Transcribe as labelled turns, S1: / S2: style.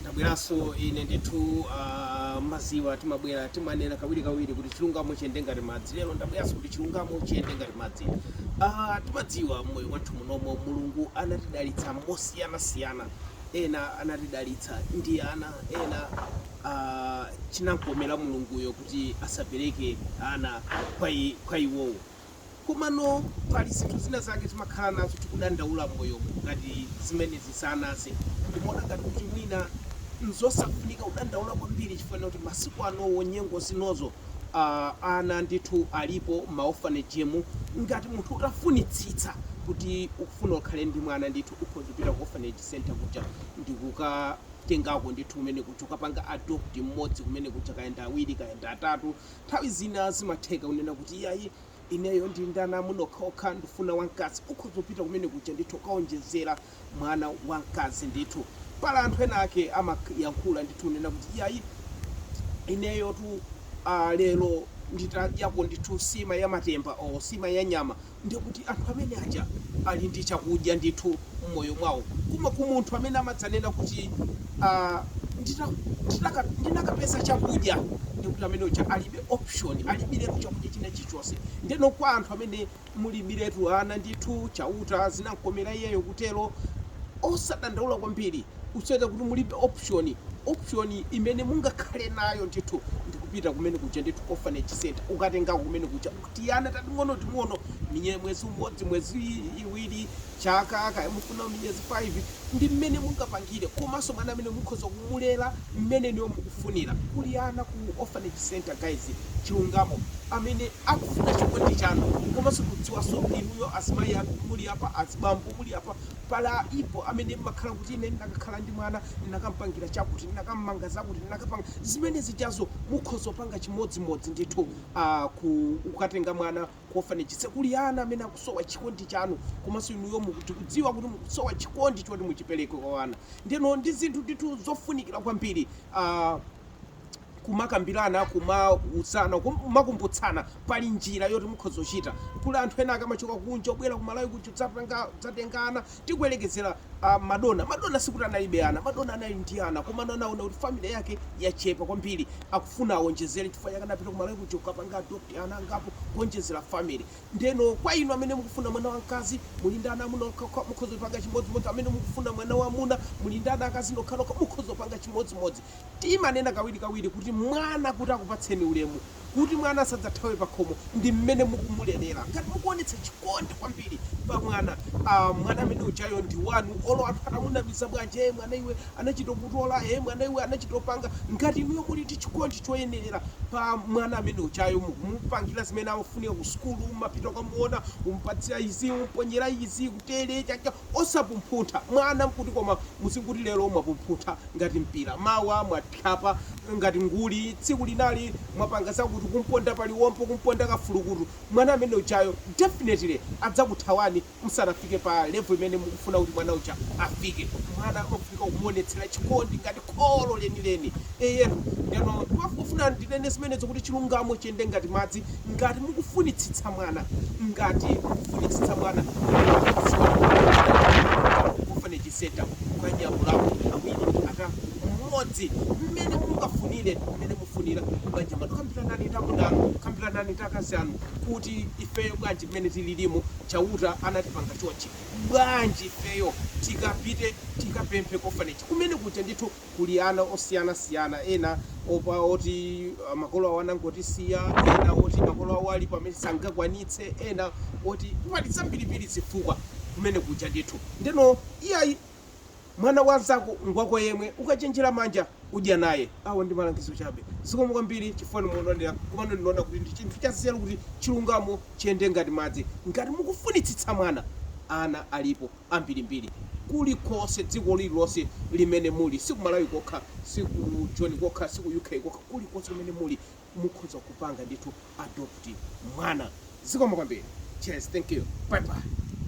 S1: Ndabweranso ine ndithu ah, mmadziwa timabwera timanena kawiri kawiri kuti chilungamo chiyende ngati madzi lero ndabweranso kuti chilungamo chiyende ngati madzi ah, timadziwa mmoyo wathu munomo mulungu anatidalitsa mosiyanasiyana ena anatidalitsa ndi ana ena ah, chinamkomera mulunguyo kuti asapereke ana kwa i- kwa iwowo Komano pali zinthu zina zake timakhala nazo tikudandaula m'moyomu, ngati zimenezi za ana zi, ndimaona ngati kuti mwina n'zosafunika kudandaula kwambiri chifukwa choti masiku anowo nyengo zinozi ana ndithu alipo m'maofanejemu. Ngati munthu utafunitsitsa kuti ukufuna ukhale ndi mwana ndithu ukhoza kupita ku ofaneji senta kuja ndi kukatengako ndithu kumene kuja, kukapanga adoputi mmodzi kumene kuja, kaya ndi awiri, kaya ndi atatu. Nthawi zina zimatheka kunena kuti iyayi ineyo ndili ndi ana amuna okhaokha ndifuna wamkazi ukhoza kupita kumene kuja ndithu kukawonjezera mwana wamkazi ndithu. Pali anthu ena ake amayankhula ndithu kunena kuti iyayi ineyotu ah lero nditadyapo ndithu nsima ya matemba or nsima ya nyama ndiye kuti anthu amene aja ali ndi chakudya ndithu m'moyo mwawo. Koma ku munthu amene amadzanena kuti, ah, ndita, nditaka, ndinakapeza chakudya, ndiye kuti amene uja alibe option, alibiretu chakudya china chilichonse. Ndeno kwa anthu amene mulibiretu ana ndithu, Chauta zinamkomera iyeyo kutero, osadandaula kwambiri, usaone kuti mulibe option, option imene mungakhale nayo ndithu ndi kupita kumene kuja ndithu ku orphanage centre, kukatengako kumene kuja. tiana tating'onoting'ono minye- mwezi umodzi miyezi i- iwiri chaka kaya mufuna miyezi 5 ndi mmene mungapangire komanso mwana amene mukhoza kumulera mmene inuyo mukufunira kuli ana ku orphanage center guys chilungamo amene akufuna chikondi chanu komanso kudziwanso inuyo azimayi amene muli apa azibambo muli apa plan ilipo amene mmakhala kuti ine ndinakakhala ndi mwana ndinakampangira chakuti ndinakampanga zakuti ndinakapanga zimene zijazo mukhoza kupanga chimodzimodzi ndithu a ku kukatenga mwana ku orphanage se- kuli ana amene akusowa chikondi chanu komanso inuyo muku- tikudziwa kuti mukusowa chikondi choti muchipereke kwa ana ndeno ndi zinthu ndithu zofunikira kwambiri ah, kumakambirana kumauzana kumakumbutsana pali njira yoti mukhoza kuchita kuli anthu ena akamachoka kunja obwera kumalawi kuja kudzatenga ana Tikuyerekezera a Madonna, Madonna sikuti analibe ana, Madonna anali ndi ana komano anaona kuti family yake yachepa kwambiri akufuna awonjezere chifukwa chake anapita ku Malawi kuja kukapanga adopt ana angapo kuonjezera family. Ndeno kwa inu amene mukufuna mwana wamkazi muli ndi ana amuna okhaokha mukhoza kupanga chimodzimodzi, amene mukufuna mwana wamuna muli ndi ana akazi okhaokha mukhoza kupanga chimodzimodzi. Timanena kawirikawiri kuti mwana kuti akupatseni ulemu, kuti mwana asadzathawe pakhomo ndi mmene mukumulelera. Ngati mukuonetsa chikondi kwambiri pa mwana, aah mwana amene ujayo ndi wanu olo anthu atamunamiza bwanji, eeh mwana iwe anachita kutola, eeh mwana iwe anachita kupanga. Ngati inuyo muli ndi chikondi choyenerera pa mwana amene ujayo, mukumupangira zimene amafunika ku sukulu, mumapita kukamuona, kumupatsira izi, kumuponyera izi, kutere, chakucha. Osapumphuntha mwana n'kuti koma muzingoti lero mwapumphuntha ngati mpira, mawa mwa. kwapula ngati nguli tsiku linalo mwapanga zakuti kumponda pa liwombo kumponda ka fulukutu mwana amene ujayo definitely adzakuthawani msanafike pa level imene mukufuna kuti mwana uja afike mwana amafunika kumuonetsela chikondi ngati kholo lenileni eyetu ndeno ndimafuna ndinene zimenezo kuti chilungamo chiyende ngati madzi ngati mukufunitsitsa mwana ngati mukufunitsitsa mwana mukudziwa kuti mwana wanu ku orphanage center kukanyamulako awiri atatu mmodzi mmene mungafunire mmene mufunira m'banja mwanu kambiranani ndi amuna anu kambiranani ndi akazi anu kuti ifeyo bwanji mmene tililimu chauta anatipanga chonchi bwanji ifeyo tikapite tikapemphe ku orphanage kumene kuja ndithu kuli ana osiyanasiyana, ena opa oti makolo awo anangowasiya, ena oti makolo awo alipo amene sangakwanitse, ena oti pali zambirimbiri zifukwa kumene kuja ndithu. Ndeno iyayi mwana wa nzako ngwako yemwe, ukachenjera manja udya naye. Awa ndi malangizo chabe. Zikomo kwambiri chifukwa inu mukutionera komano ndinaona kuti ndi chinthu cha nzeru kuti chilungamo chiyende ngati madzi. Ngati mukufunitsitsa mwana, ana alipo. ambirimbiri kulikonse dziko lililonse limene muli si ku Malawi kokha si ku Joni kokha si ku UK kokha kulikonse kumene muli mukhoza kupanga ndithu adopt mwana zikomo kwambiri cheers thank you bye bye